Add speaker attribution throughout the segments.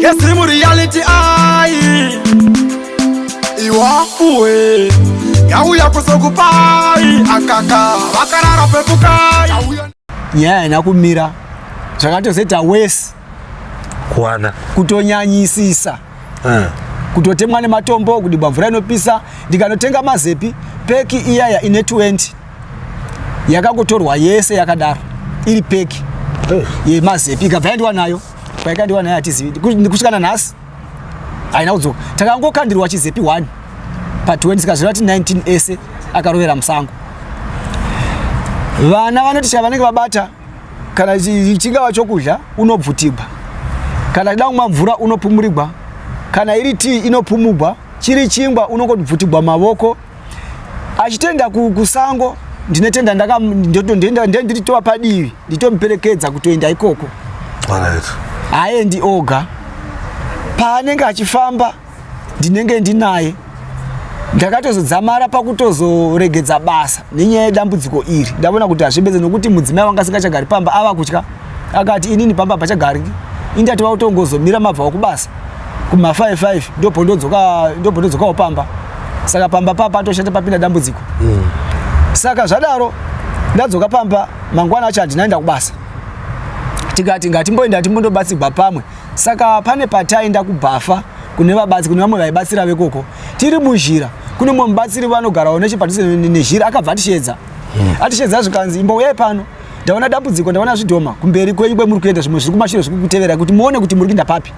Speaker 1: Yesi mu reality ayi Iwafuwe Yauya kusokupai akaka Vakarara pepukai Yauya Nyaya ina
Speaker 2: kumira Zvakatozoita worse Kuwana
Speaker 3: Kutonyanyisisa
Speaker 2: uh. Kutotemwa nematombo kudibwa mvura inopisa ndikanotenga mazepi peki iyaya ine 20 yakangotorwa yese yakadaro iri peki eh. yemazepi ikabva yandiwa nayo kwaikandiwa nayo hatizivi kusvikana nhasi haina kudzoka takangokandirwa chizepi 1 pa 20 sikazvira ti 19 ese akarovera musango vana vanoti chava vanenge vabata kana chingava chokudya unobvutigwa kana chida kumwa mvura unopumurigwa kana iri tii inopumugwa chiri chingwa unongobvutigwa mavoko achitoenda kusango ku ndinetenda ndakanditova padivi nditomuperekedza kutoenda ikoko haendi oga paanenge achifamba ndinenge ndinaye ndakatozodzamara pakutozoregedza basa nenyaya yedambudziko iri ndaona kuti hazvipedze nokuti mudzimai wanga asingachagari pamba ava kutya akati inini pamba pachagariki indati vautongozomira mabva wakubasa kuma 55 ndopondodzoka ndopondodzokawo pamba saka pamba papa atoshata papinda dambudziko mm. saka zvadaro ndadzoka pamba mangwana acho handinaenda kubasa tikati ngatimboenda timbondobatsigwa pamwe saka pane pataenda kubhafa kune vabatsi kune vamwe vaibatsira vekoko tiri muzhira kune mumwe mubatsiri vanogarawo nechepadhuze nezhira akabva atisheedza mm. atisheedza zvikanzi imbouyai pano ndaona dambudziko ndaona zvidhoma kumberi kwenyu kwemuri kuenda zvimwe zviri kumashure zviri kutevera kuti muone kuti muri kuinda papi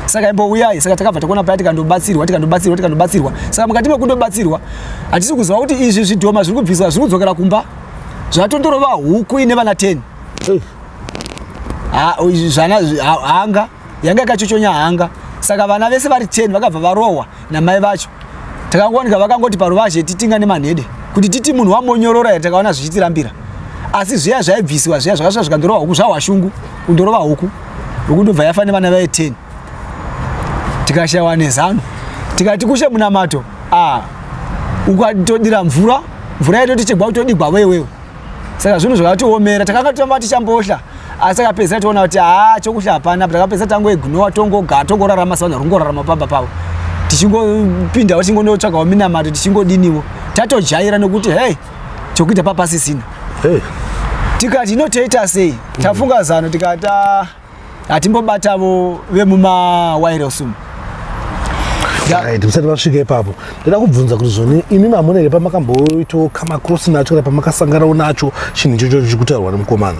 Speaker 2: saka imbouyai saka takabva takuona paya tikandobatsirwa tikandobatsirwa tikandobatsirwa saka mukati mekundobatsirwa hatisi kuziva kuti izvi zvidhoma zviri kubviswa zviri kudzokera kumba zvatondorova huku ine vana 10 zvana hanga yanga yakachochonya hanga saka vana vese vari 10 vakabva varohwa namai vacho takangowanika vakangoti paruvazhe titinga nemanhede kuti titi munhu wamonyorora here takaona zvichitirambira asi zviya zvaibvisiwa zviya zvakasvika zvikandorova huku zvahwashungu kundorova huku huku ndobva yafa nevana vaye 10 tikashayiwa nezano tikati kushe munamato a ah, ukatodira mvura mvura yaitotichegwa kutodigwa wewewe saka zvinhu zvakatiomera takanga tamba tichambohla asi takapedzisira toona kuti haa chokuhla hapana apa takapedzisira tangoignowa tongogara tongorarama savanhu varikungorarama pamba pavo tichingopindawo tichingonotsvagawo minamato tichingodiniwo tatojaira nokuti hey chokuita papasisina hey. tikati inotoita sei tafunga zano tikati ah. hatimbobatavo vemumawairos umu right musati
Speaker 3: vasvika ipapo ndoda kubvunza kuti zvoni imi mamuna here pamakamboitawo kamakrosi nacho kana pamakasanganawo nacho chinhu ichocho chichikutaurwa nemukomana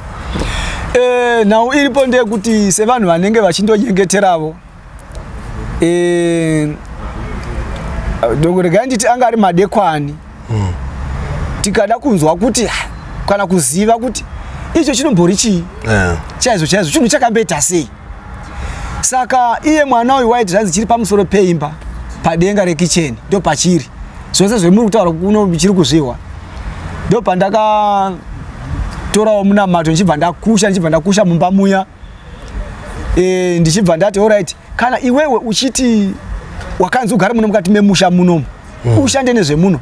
Speaker 3: eh,
Speaker 2: nhau iripo ndeyekuti sevanhu vanenge vachindonyengeteravo eh, regai nditi anga ari madekwani hmm. tikada kunzwa kuti kana kuziva kuti icho chinombori chii eh. chaizvo chaizvo chinhu chakamboita sei saka iye mwana uyu waiti zvanzi chiri pamusoro peimba padenga rekicheni ndo pachiri zvose zvemuri kutaura kuno chiri kuzvihwa ndo pandakatorawo munamato ndichibva ndakusha ndichibva ndakusha mumba muya e, ndichibva ndati orit kana iwewe uchiti wakanzi ugare muno mukati memusha munomu mm. ushande nezvemuno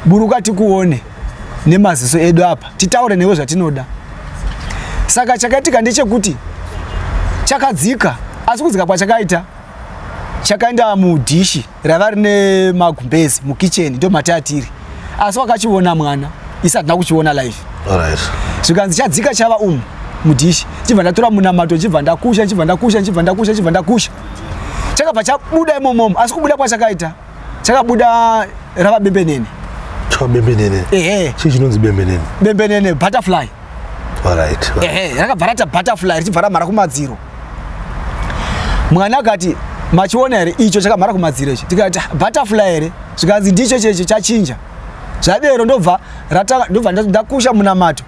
Speaker 2: buruka tikuone nemaziso edu apa titaure newe zvatinoda saka chakaitika ndechekuti chakadzika asi kudzika kwachakaita chakaenda mudhishi raiva rine magumbezi mukitchen ndo mati atiri asi wakachiona mwana isi hatina kuchiona live zvikanzi chadzika chava umu mudhishi chibva ndatora munamato chibva ndakusha chibva ndakusha chibva ndakusha chibva ndakusha chakabva chabuda imomomo asi kubuda kwachakaita chakabuda rava bembenene bembenene
Speaker 3: ehe chii chinonzi bembenene bembenene butterfly
Speaker 2: rakabva rata butterfly richibva ramhara kumadziro mwana akati machiona here icho chakamhara kumadziro ichi tikati ah, butterfly here zvikanzi ndicho checho chachinja zvadero ndobva ndobva ndakusha munamato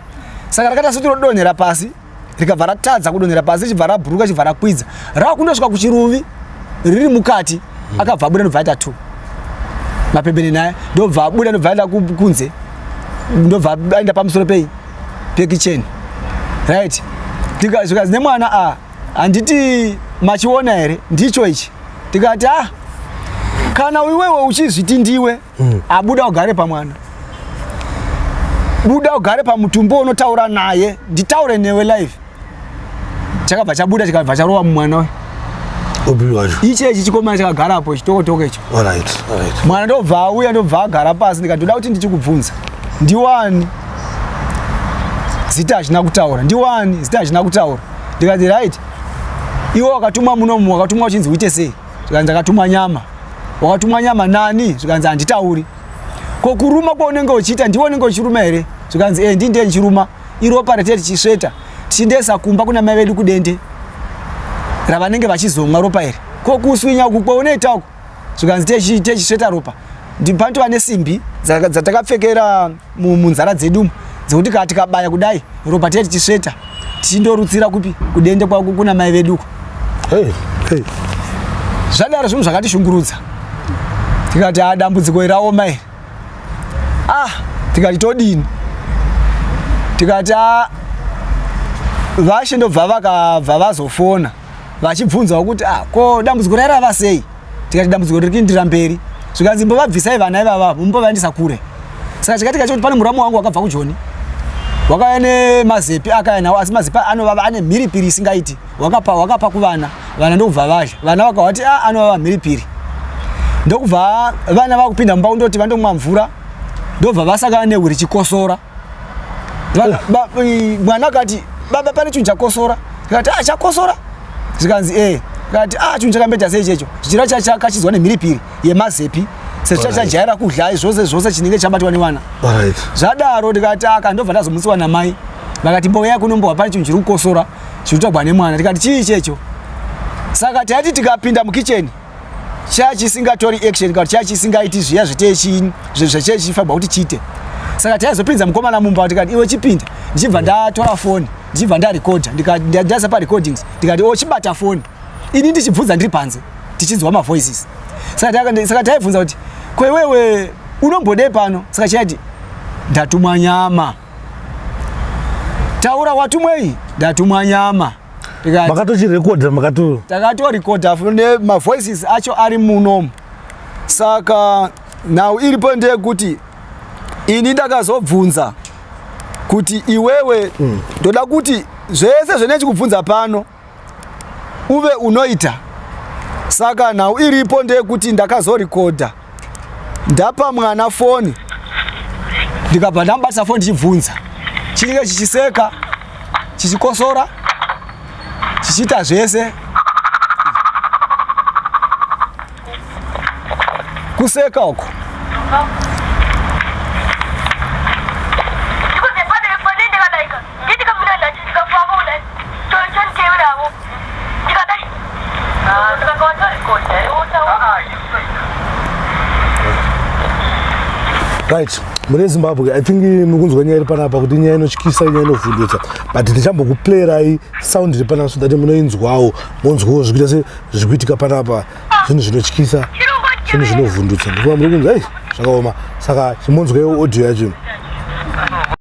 Speaker 2: saka rakaita sekuti rodonhera pasi rikabva ratadza kudonhera pasi richibva rabhuruka chibva rakwidza rava kundosvika kuchiruvi riri mukati hmm. akabva abuda ndobva aita two mapembeni naye ndobva abuda ndobva aenda kunze ndobva aenda pamusoro pei pekicheni right zvikanzi nemwana a ah, handiti machiona here ndicho ichi tikati a ah, kana iwewe uchizviti ndiwe hmm. abuda ugare pamwana buda ugare pamutumbo unotaura naye nditaure newe live chakabva chabuda chikabva charova mumwana uyu
Speaker 3: ichi ichi chikomana chakagara
Speaker 2: apo chitokotoko icho mwana
Speaker 3: ndobva
Speaker 2: auya ndobva agara pasi ndikatoda kuti ndichikubvunza ndiwani zita hazvina kutaura ndiwani zita hazvina kutaura ndikati right iwe wakatumwa munomu wakatumwa uchinzi uite sei zvikanzi akatumwa nyama wakatumwa nyama nani zvikanzi handitauri ko kuruma kwaunenge uchiita ndiwe unenge uchiruma here zvikanzi e eh, ndindiye ndichiruma iropa ratete chisveta tichindesa kumba kuna mai vedu kudende ravanenge vachizomwa ropa iri ko kuswinya uku kwaunoita uku zvikanzi techisveta ropa ndipandova nesimbi dzatakapfekera munzara dzedu dzekuti kaa tikabaya kudai ropa tiye tichisveta tichindorutsira kupi kudende kwako kuna mai vedu uko zvadaro zvinhu zvakatishungurudza tikati a dambudziko iraoma iri ah tikati todini tikati ah, vashe ndobva vakabva vazofona vachibvunzawo kuti ah ko dambudziko raira vasei tikati dambudziko riri kuindira mberi zvikanzi mbovabvisai vana ivava mumbovaendesa kure saka chikatika chekuti pane muramu wangu wakabva kujoni wakauya nemazepi akaya nawo asi mazepi anovava ane mhiripiri isingaiti wakapa wakapa kuvana vana ndokubva vadya vana vakawati a ah, anova vamhiripiri ndokubva vana vakupinda mumba kundoti vandomwa mvura ndobva vasakana nehu richikosora eh. mwana akati baba pane chinhu chakosora ikati a ah, chakosora zvikanzi e eh. kati a ah, chinhu chakambeta sei checho chichira chachakachidzwa nemhiripiri yemazepi sechachajaira kudya zvose zvose chinenge chabatwa nevana zvadaro ndikati aka ndobva ndazomutsiwa namai vakati mboya kunombowa pane chinhu chiri kukosora chirutagwa nemwana tikati chii checho saka taiti tikapinda mukicheni chaya chisingatori action kana chaya chisingaiti zviya zvetechini zvechechifanirwa kuti chiite saka taizopinza mukomana mumba tikati iwe chipinda ndichibva ndatora foni ndichibva ndarekodha ndikadaisa parecordings ndikati o oh, chibata foni ini ndichibvunza ndiri panze tichinzwa mavoices saka taibvunza kuti kwewewe unombodei pano saka chaiti ndatumwa nyama taura watumwei ndatumwa nyama makatochirekodha
Speaker 3: makato takatorekodha
Speaker 2: ne mavoices acho ari munomu saka nhau iripo ndeyekuti ini ndakazobvunza kuti iwewe hmm. ndoda mm. kuti zvese zvenechikubvunza pano uve unoita saka nhau iripo ndeyekuti ndakazorekodha ndapa mwana foni ndikabva ndamubata foni ndichibvunza chinenge chichiseka chichikosora chichiita zvese kuseka uko
Speaker 3: right mune zimbabwe i think eh, mukunzwa nyaya iri panapa kuti nyaya inotyisa nyaya inovhundutsa but ndichambokuplayerai sound iri panapa so that munoinzwawo monzwawo zvikuita se zvikuitika panapa zvinhu zvinotyisa zvinhu zvinovhundutsa ndikuva muri kunzi ei zvakaoma saka chimonzwaiwo audio yacho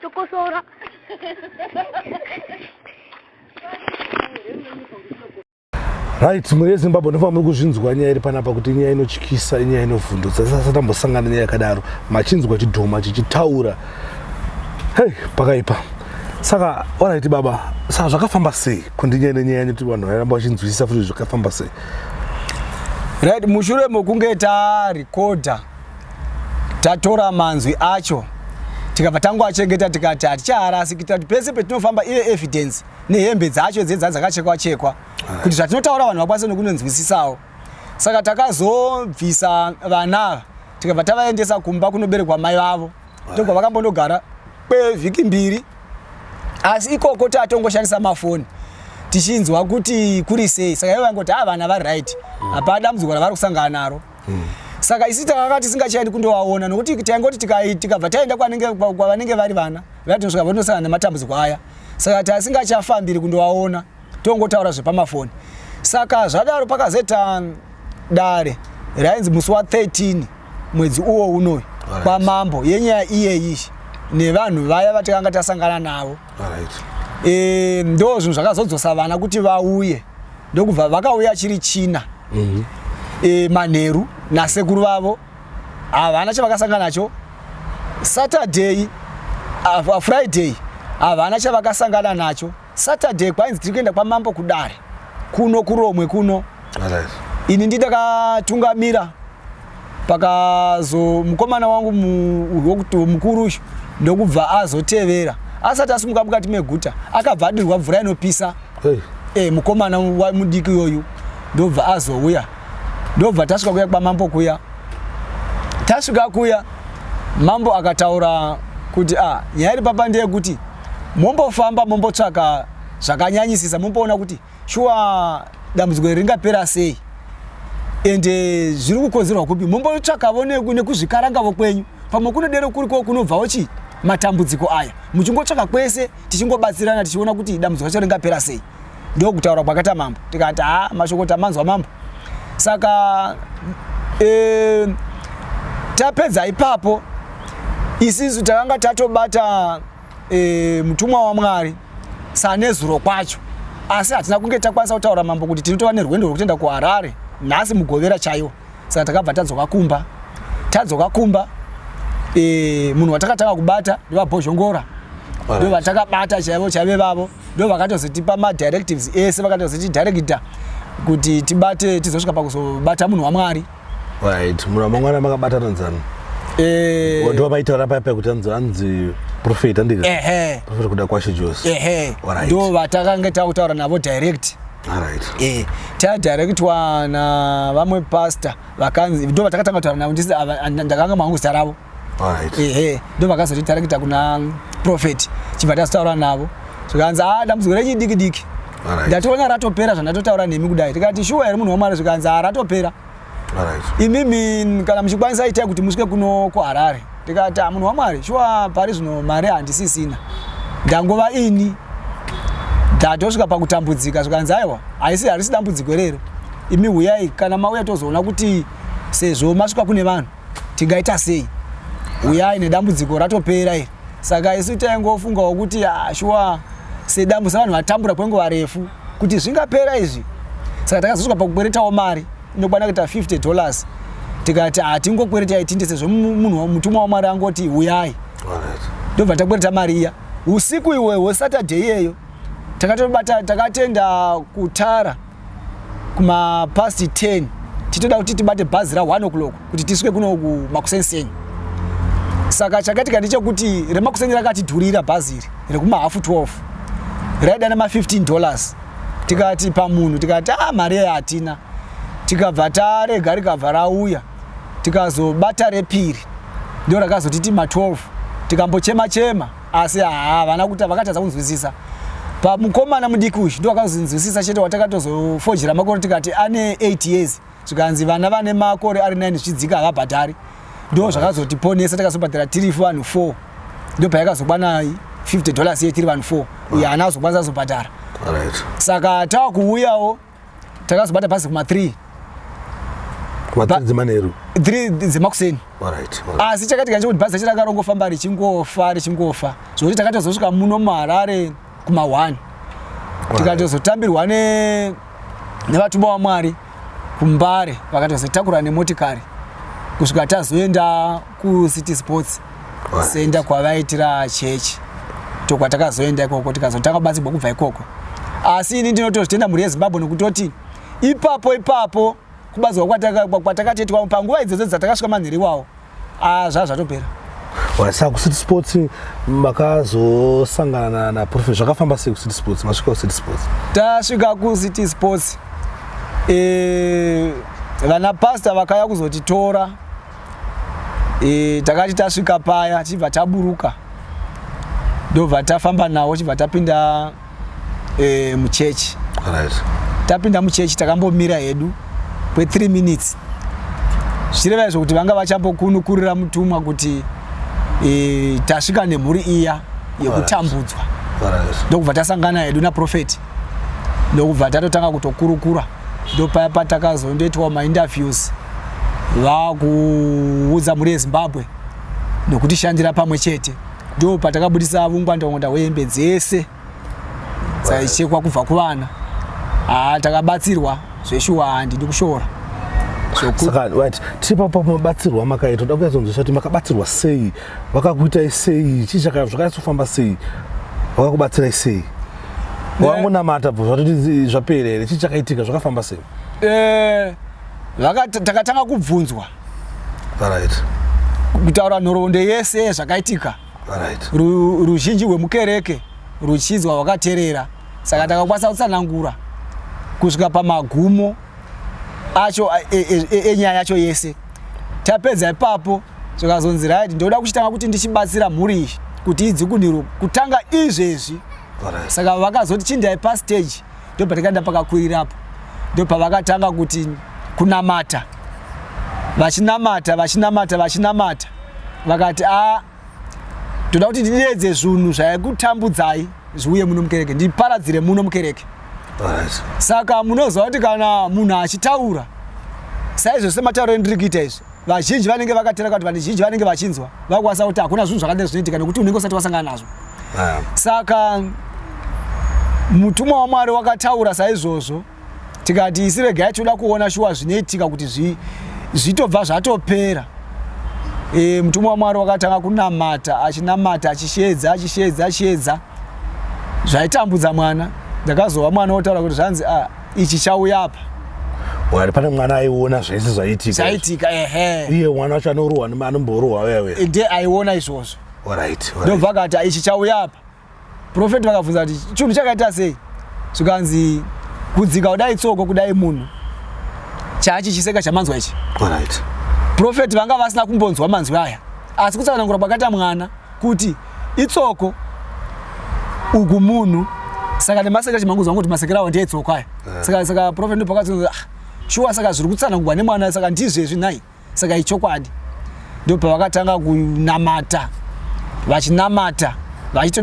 Speaker 4: Tokosora.
Speaker 3: right mhuri yezimbabwe ndofamba muri kuzvinzwa nyaya iri panapa kuti inyaya inotyisa inyaya inovhundutsa sasa tambosangana nyaya yakadaro machinzwa chidhoma chichitaura hei pakaipa saka orit baba saka zvakafamba sei kundinyaya nenyaya yanyu kuti vanhu vairamba vachinzwisisa futi zvakafamba sei
Speaker 2: right mushure mokunge tarekodha tatora manzwi acho tikabva tangoachengeta tikati hatichaharasi kuitira kuti pese petinofamba ive evidence nehembe dzacho dzedza dzakachekwa chekwa kuti zvatinotaura vanhu vakwanise nokunonzwisisawo saka takazobvisa vana tikabva tavaendesa kumba kunoberekwa mai vavo ndokwa vakambondogara kwevhiki mbiri asi ikoko tatongoshandisa mafoni tichinzwa kuti kuri sei saka ivo vangoti haa vana vari right mm. hapana dambudziko ravari kusangana naro mm. saka isi takanga tisingachaendi kundovaona nokuti taingoti tikabva taenda kwavanenge vari vana vatinosvika vatinosangana nematambudziko aya saka tasingachafambiri kundovaona tongotaura zvepamafoni saka zvadaro pakazoita dare rainzi musi wa 13 mwedzi uwo unoyu right. kwamambo yenyaya iyeyi nevanhu vaya vatakanga tasangana navo right. e, ndo zvinhu zvakazodzosa vana kuti vauye ndokubva vakauya chiri china mm -hmm. e, manheru nasekuru vavo havana chavakasangana nacho saturday uh, friday havana chavakasangana nacho Saturday kwainzi tiri kuenda kwamambo kudare kuno kuromwe kuno ini nditakatungamira pakazo mukomana wangu mukuru uyu ndokubva azotevera asati asimuka mukati meguta akabva adirwa mvura inopisa hey. e, eh, mukomana mudiki yoyu ndobva azouya ndobva tasvika kuya kwamambo kuya tasvika kuya mambo akataura kuti a ah, nyaya iri papa ndeyekuti mombofamba mombotsvaka zvakanyanyisisa momboona kuti shuwa dambudziko iri ringapera sei ende eh, zviri kukonzerwa kupi mombotsvakavo nekuzvikarangavo kwenyu pamwe kunodero kuriko kunobvawo chii matambudziko aya muchingotsvaka kwese tichingobatsirana tichiona kuti dambudziko racho ringapera sei ndokutaura kwakaita mambo tikati ha mashoko tamanzwa mambo saka e, tapedza ipapo isisu takanga tatobata e, mutumwa wamwari sanezuro kwacho asi hatina kunge takwanisa kutaura mambo kuti tinotova nerwendo rwekutoenda kuharare nhasi mugovera chaiwo saka takabva tadzoka kumba tadzoka kumba e, munhu watakatanga kubata ndevabhozhongora ndovatakabata chaivo chaive vavo ndo vakatozotipa madirectives ese vakatozotidirecta kuti tibate tizosvika pakuzobata munhu wamwari right munhu
Speaker 3: wamangwana makabatana nzani eh. ndiwo maitaura paya paya kuti anzi anzi profet andika profet kuda kwashe jose ndo vatakange
Speaker 2: takutaura navo direct eh, tadirectwa navamwe pastor vakanzi ndo vatakatanga kutaura navo ndakanga mangu zita ravo ehe ndo vakazotitareketa kuna prophet chibva tazotaura navo zvikanzi a ah, dambudziko rechi diki diki ndatoona ratopera zvandatotaura nemi kudai tikati shuwa here munhu wamwari zvikanzi a ah, ratopera imimi kana muchikwanisa itai kuti musvike kuno kuharare tikati a ah, munhu wamwari shuwa pari zvino mari handisisina ndangova ini ndatosvika pakutambudzika zvikanzi aiwa haisi harisi dambudziko rero imi huyai kana mauya tozoona kuti sezvo masvika kune vanhu tingaita sei uyai nedambudziko ratopera iri saka isu taingofungawo kuti ah, shuwa sedambu sevanhu vatambura kwenguva refu kuti zvingapera izvi saka takazosvika pakukweretawo mari inokwana kuita 50 dollars tikati hatingokwereta ah, itinde sezvo munhu mutumwa wamwari angoti uyai ndobva takwereta mari iya usiku iwe hwesaturday iyeyo takatobata takatenda kutara kuma past 10 titoda kuti tibate bhazi ra 1 o'clock kuti tisvike kuno kumakuseniseni saka chakaitika ndechekuti remakuseni rakatidhurira bhazi iri rekumahafu 12 raida nema 15 dollars tikati pamunhu tikati a ah, mari yayo hatina tikabva tarega rikabva rauya tikazobata repiri ndo rakazotiti ma 12 tikambochema chema, chema. asi havana kuti vakatadza kunzwisisa pamukomana mudiki uyu ndo wakazinzwisisa chete watakatozofojera makore tikati ane 8 years zvikanzi vana vane makore ari 9 zvichidzika havabhadhari ndo zvakazotiponesa takazobhadhara tiri vanhu 4 ndo payakazokwana 50 dollars ye tiri vanhu 4 uye haana azokwanisa azobhadhara saka tava kuuyawo right. takazobata bhazi kuma 3 kumadzimanheru 3 dzemakuseni asi chakati kanje kuti bhazi racho rakarongofamba richingofa richingofa zvokuti takatozosvika muno muharare kuma 1 tikatozotambirwa nevatumwa wamwari kumbare vakatozotakura nemotikari kusvika tazoenda kucity sports center kwavaitira church tokwatakazoenda ikoko tikazotanga kubatsirwa kubva ikoko asi ini ndinotozvitenda mhuri yezimbabwe nekutoti ipapo ipapo kubatsirwa kwatakatiitwa panguva idzodzo dzatakasvika manhiri iwawo ah, zvaa zvatopera
Speaker 3: wasa kucity sports makazosangana naprofet zvakafamba sei kucity sports masvika kucity sports tasvika kucity
Speaker 2: sports eh, vana pasta vakauya kuzotitora e, takati tasvika paya tichibva taburuka ndobva tafamba nawo chibva tapinda e, muchechi right. tapinda muchechi takambomira hedu kwe3 minutes zvichireva izvo kuti vanga vachambokunukurira mutumwa kuti e, tasvika nemhuri iya yekutambudzwa right. right. ndokubva tasangana hedu naprofeti ndokubva tatotanga kutokurukura ndopaya patakazondoitwa mainterviews vakuudza mhuri yezimbabwe nokutishandira pamwe chete ndo patakabudisa vungwandaungwanda hwehembe dzese dzaichekwa kubva kuvana haa takabatsirwa zveshuwa handi ndikushora saka
Speaker 3: right tiri papo mabatsirwa makaita toda kuyatsonzwiswa kuti makabatsirwa sei vakakuitai sei chii zvakanyatsofa sei vakakubatsirai sei wangonamata bvo zvatoti zvapera here chii chakaitika zvakafamba sei eh,
Speaker 2: takatanga kubvunzwa right kutaura nhoroondo yese zvakaitika right ruzhinji rwemukereke ruchinzwa rwakaterera saka takakwanisa kutsanangura kusvika pamagumo acho enyaya e, e, e, yacho yese tapedza ipapo zvikazonzi right ndoda kuchitanga kuti ndichibatsira mhuri iyi kuti idzi kundiro kutanga izvezvi saka vakazoti chindai pastage ndopatakaenda pakakwirirapo ndopavakatanga kuti kunamata vachinamata vachinamata vachinamata vakati a toda kuti ndideedze zvinhu zvaikutambudzai zviuye muno mukereke ndiparadzire muno mukereke saka munoziva kuti kana munhu achitaura saizvo sematauro endiri kuita izvi vazhinji vanenge vakatera kuti vazhinji vanenge vachinzwa vakwanisa kuti hakuna zvinhu zvakadai zvinoitika nekuti unenge usati wasangana nazvo ah. saka mutumwa wamwari wakataura saizvozvo tikati isi regai toda kuona shuwa zvinoitika kuti zvitobva zvatopera e, mutumwa wamwari wakatanga kunamata achinamata achisheedza achisheedza achisheedza zvaitambudza mwana ndakazova mwana wotaura kuti zvanzi a ah, ichi chauya apa wari pane
Speaker 3: mwana aiona zvese zvaitika zvaitika ehe iye mwana wacho anorohwa anomborohwa wewe eh, nde aiona izvozvo
Speaker 2: orit ndobva akati ah, ichi chauya apa profeti vakabvunza kuti chinhu chakaita sei zvikanzi kudzika kudai tsoko kudai munhu chaachi chiseka chamanzwa ichi orit profeti vanga vasina kumbonzwa manzwi aya asi kutsanangura kwakaita mwana kuti itsoko uku munhu saka nemasekera chimanguzi vangu kuti masekera awo ndiye itsoko aya eh. saka saka prophet ndopakati ah, shuwa saka zviri kutsanangurwa nemwana saka ndizvezvi nhai saka ichokwadi ndo pavakatanga kunamata vachinamata vachito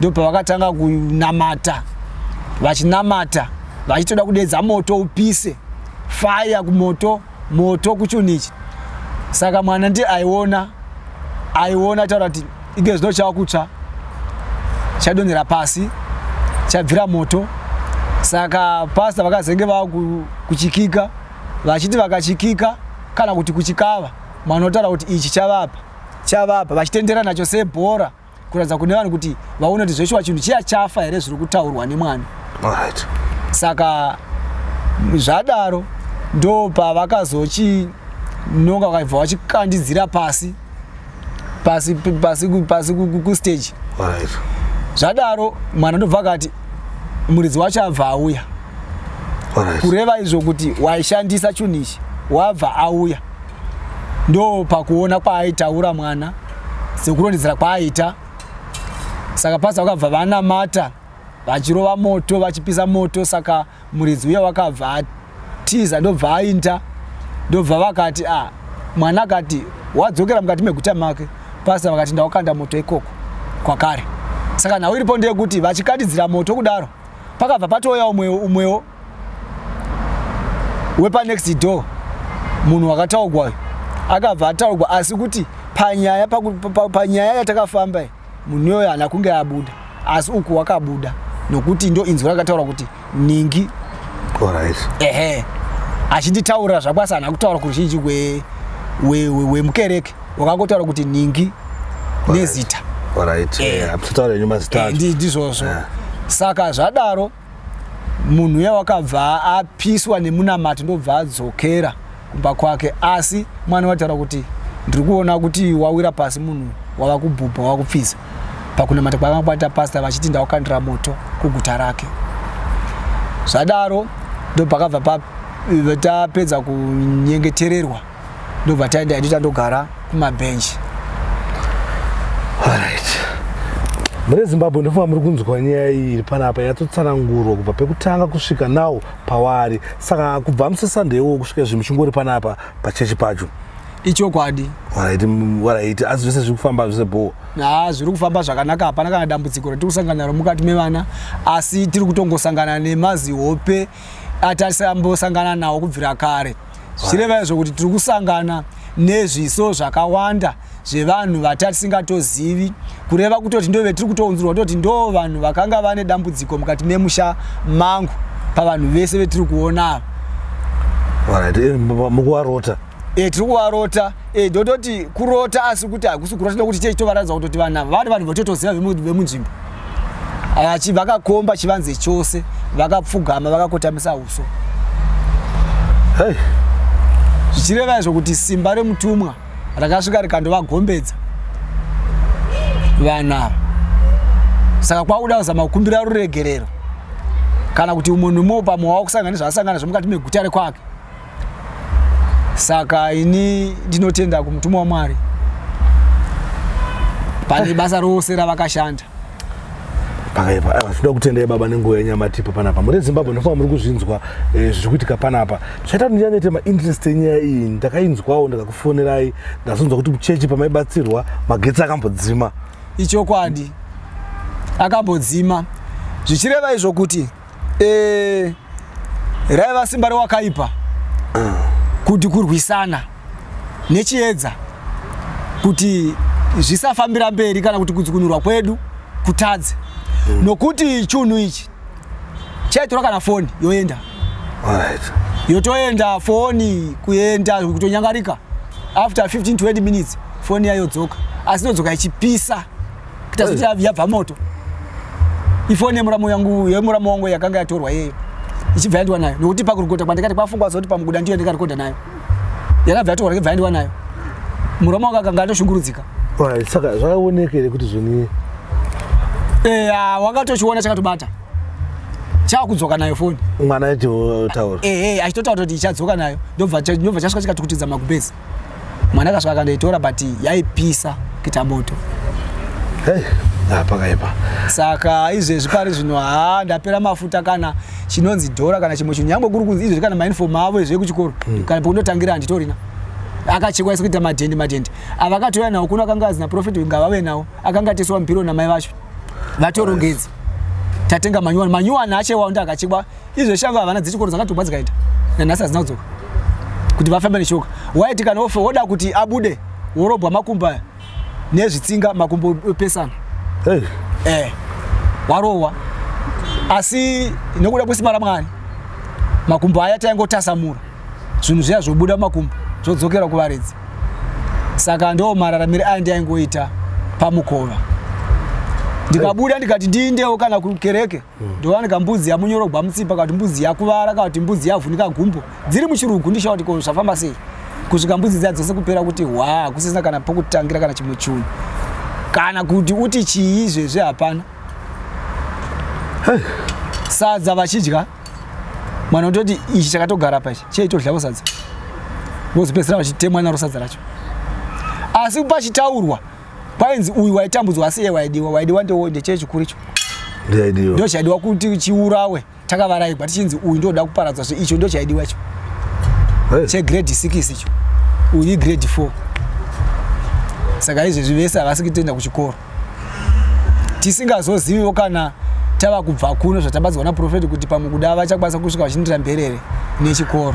Speaker 2: ndo pavakatanga kunamata vachinamata vachitoda kudedza moto upise faya kumoto moto kuchunhu ichi saka mwana ndiye aiona aiona taura kuti ige zvino chava kutsva chadonhera pasi chabvira moto saka pasta vakazenge vava kuchikika vachiti vakachikika kana kuti kuchikava mwana otaura kuti ichi chavapa chavapa vachitendera nacho sebhora kuratidza kune vanhu kuti vaone kuti zveshuwa chinhu chiya chafa here zviri kutaurwa nemwana right.
Speaker 3: saka
Speaker 2: zvadaro ndo pavakazochinonga vakaibva vachikandidzira pasi pasi pasi pasi kustage right.
Speaker 3: zvadaro
Speaker 2: mwana ndobva akati muridzi wacho abva auya right.
Speaker 3: kureva izvo kuti
Speaker 2: waishandisa chunhu ichi wabva auya ndo pakuona kwaaitaura mwana sekurondedzera kwaaita saka pasa vakabva vanamata vachirova moto vachipisa moto saka muridzi uya wakabva atiza ndobva ainda ndobva vakati a ah, mwana akati wadzokera mukati meguta make pasa vakati ndawakanda moto ikoko kwakare saka nhau iripo ndeyekuti vachikatidzira moto kudaro pakabva patouya umwewo umwewo wepanext door munhu wakataugwa akabva ataugwa asi kuti panyaya panyaya yatakafamba munhu iyoyo hana kunge abuda asi uku wakabuda nokuti ndo inzwi rakataura kuti ningi
Speaker 3: ehe
Speaker 2: achinditaurira zvako asi hana kutaura kuruzhinji wemukereke wakangotaura kuti ningi nezita
Speaker 3: ndizvozvo
Speaker 2: saka zvadaro munhu uya wakabva apiswa nemunamati ndobva adzokera kumba kwake asi mwana wataura kuti ndiri kuona kuti wawira pasi munhu wava kubhubha wava kupfiza pakunamata kwavanga kwaita pasta vachiti ndawakandira moto kuguta rake zvadaro ndopakabva tapedza kunyengetererwa ndobva taenda hedu tandogara kumabhenji
Speaker 3: alright mune zimbabwe ndofunga muri kunzwa nyaya iyi iri panapa yatotsanangurwa kubva pekutanga kusvika nawo pawaari saka kubva musesunday iwowo kusvika izvi muchingori panapa pachechi pacho ichokwadi waraiti asi zvese zviri kufamba zvese bho ha zviri kufamba
Speaker 2: zvakanaka hapana kana dambudziko ratiri kusangana naro mukati mevana asi tiri kutongosangana nemazihope atasambosangana nawo kubvira kare zvireva izvo kuti tiri kusangana nezviso zvakawanda zvevanhu vatasingatozivi kureva kutoti ndove tiri kutounzirwa toti ndo vanhu vakanga vane dambudziko mukati memusha mangu pavanhu vese vetiri kuona ava
Speaker 3: mukuvarota e, tiri
Speaker 2: kuvarota e, eh, dototi kurota asi kuti hakusi kurota nekuti chee chitovaratidza kutoti vana vari vanhu vatotoziva vemunzvimbo aya chi vakakomba chivanze chose vakapfugama vakakotamisa uso
Speaker 3: hey.
Speaker 2: zvichireva izvo kuti simba remutumwa rakasvika rikandovagombedza vanhu ava saka kwakuda kuzama kukumbira ruregerero kana kuti umwe nomwe pamwe wakusangana nezvaasangana zvomukati meguta rekwake saka ini ndinotenda kumutumwa wamwari pane basa rose ravakashanda
Speaker 3: pakaipa aiwa tinoda kutendai baba nenguva yenyamatipa panapa muri zimbabwe ndofanira muri kuzvinzwa eh, zviri kuitika panapa zvaita kuti ndinyanyete mainterest enyaya iyi ndakainzwawo ndakakufonerai ndazonzwa kuti kuchechi pamaibatsirwa magetsi akambodzima ichokwadi
Speaker 2: akambodzima zvichireva izvo kuti eh, raiva simba rewakaipa kuti kurwisana nechiedza kuti zvisafambira mberi kana kuti kudzukunurwa kwedu kutadze mm. nokuti chunhu ichi chaitora kana foni yoenda right.
Speaker 3: yotoenda
Speaker 2: foni kuenda kutonyangarika after 15 20 minutes foni yayodzoka asi inodzoka ichipisa kuita kuti yavi yabva moto ifoni yemuramu yangu yemuramu wangu yakanga yatorwa yeyo ichibva yandiwa nayo nokuti pakurikota kwandikati kwafungwa zoti pamuguda ndiyo ndikarekodha nayo yakabva yatorwa ndikibva yandiwa nayo muramu wangu akanga atoshungurudzika saka
Speaker 3: zvakaoneka here kuti zvoni eya
Speaker 2: wakatochiona chakatobata chakudzoka nayo foni mwana aitotaura
Speaker 3: ehe achitotaura kuti
Speaker 2: ichadzoka nayo ndobva chasvika chikatukutidza magubhezi mwana akasvika akandoitora but yaipisa kuita moto hey,
Speaker 3: pakaipa saka izvezvi
Speaker 2: pari zvino haa ndapera mafuta kana chinonzi dhora kana chimwe chinhu nyangwe kuri kunzi izvezvi kana mainifom avo izve kuchikoro mm. kana pokundotangira handitorina akachekwa isi kuita madhendi madhendi avakatouya nawo kuno akanga azina profit ngavave nawo akanga ateswa mupiro namai vacho vatorongedza tatenga manyuwani manyuwani achewawo ndi akachekwa izvo shava havana dzichikoro dzakatobva dzikaita nanhasi hadzina kudzoka kuti vafambe neshoka waiti kana ofe woda kuti abude worobwa makumbo aya nezvitsinga makumbo opesana hey. eh, warohwa asi nokuda kwesimba ramwari makumbo aya taingotasamura zvinhu zviya zvobuda makumbo zvodzokera kuvaridzi saka ndo mararamire aya ndiaingoita pamukova ndikabuda ndikati ndiindewo kana kukereke ndovani kambudzi yamunyorogwa mutsipa kati mbudzi yakuvara kati mbudzi yavhunika gumbo dziri muchirugu ndishaa kuti ko zvafamba sei kusvika mbudzi dziya dzose kupera kuti hwa kusisina kana pokutangira kana chimwe chunhu kana kuti uti chii zvezve hapana sadza vachidya mwana utoti ichi chakatogara pa ichi cheitodlavo sadza vozopedzisira vachitemwa naro sadza racho asi pachitaurwa kwainzi uyu waitambudzwa asi iye waidiwa waidiwa ndechee chikuru icho ndo chaidiwa kuti chiurawe takavaraigwa tichinzi uyu ndoda kuparadzwa zve icho ndo chaidiwa icho chegrade six icho uyu igrade four saka izvezvi vese havasi kutoenda kuchikoro tisingazoziviwo kana tava kubva kuno zvatabadzwa naprofeti kuti pamwe kuda vachakwanisa kusvika vachindira mberere nechikoro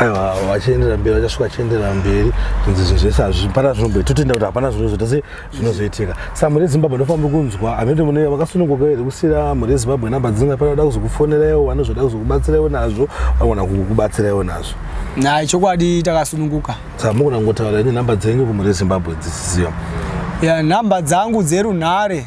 Speaker 2: aiwa
Speaker 3: vachienderera mberi vachasvika vachienderera mberi kunzi zvinhu zvese hazvipana zvinomboita totenda kuti hapana zvinozoita se zvinozoitika sa mhuri yezimbabwe ndofamba kunzwa hamete mune vakasununguka here kusiyira mhuri yezimbabwe namba dzinga panoda kuzokufoneraiwo vane zvoda kuzokubatsiraiwo nazvo vanogona kukubatsiraiwo nazvo nai chokwadi
Speaker 2: takasununguka sa mukona kungotaura
Speaker 3: ini namba dzenyu kumhuri yezimbabwe dzisiziva ya namba
Speaker 2: dzangu dzerunhare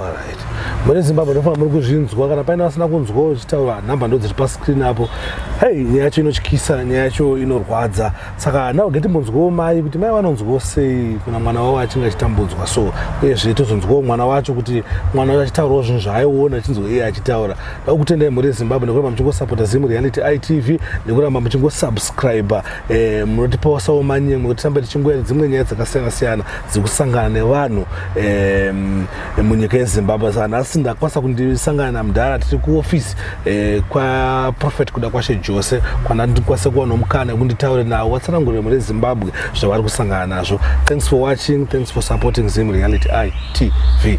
Speaker 2: Alright. Muri
Speaker 3: Zimbabwe ndofa muri kuzvinzwa kana paina asina kunzwa uchitaura number ndo dziri pa screen apo. Hey, nyaya yacho inotyisa, nyaya yacho inorwadza. Saka now geti mbonzwawo mai kuti mai vanonzwawo sei kuna mwana wavo achinge achitambudzwa so uyezve tozonzwawo mwana wacho kuti mwana wacho achitaurawo zvinhu zvaaiona achinzwa iye achitaura. Ndakutendai muri Zimbabwe nekuramba muchingosapota Zim Reality ITV nekuramba muchingosubscriber eh, munotipawo sawo manyemwe kuti tirambe tichingoyera dzimwe nyaya dzakasiyana siyana dzekusangana nevanhu eh, munyika yezimbabwe sa nhasi ndakwanisa kundisangana namudhara tiri kuofisi eh, kwaprofet kuda kwashe jose kwanandikwanise kuwana mukana wekunditaure nawo watsanangurire mune zimbabwe zvavari kusangana nazvo thanks for watching thanks for supporting zim reality i tv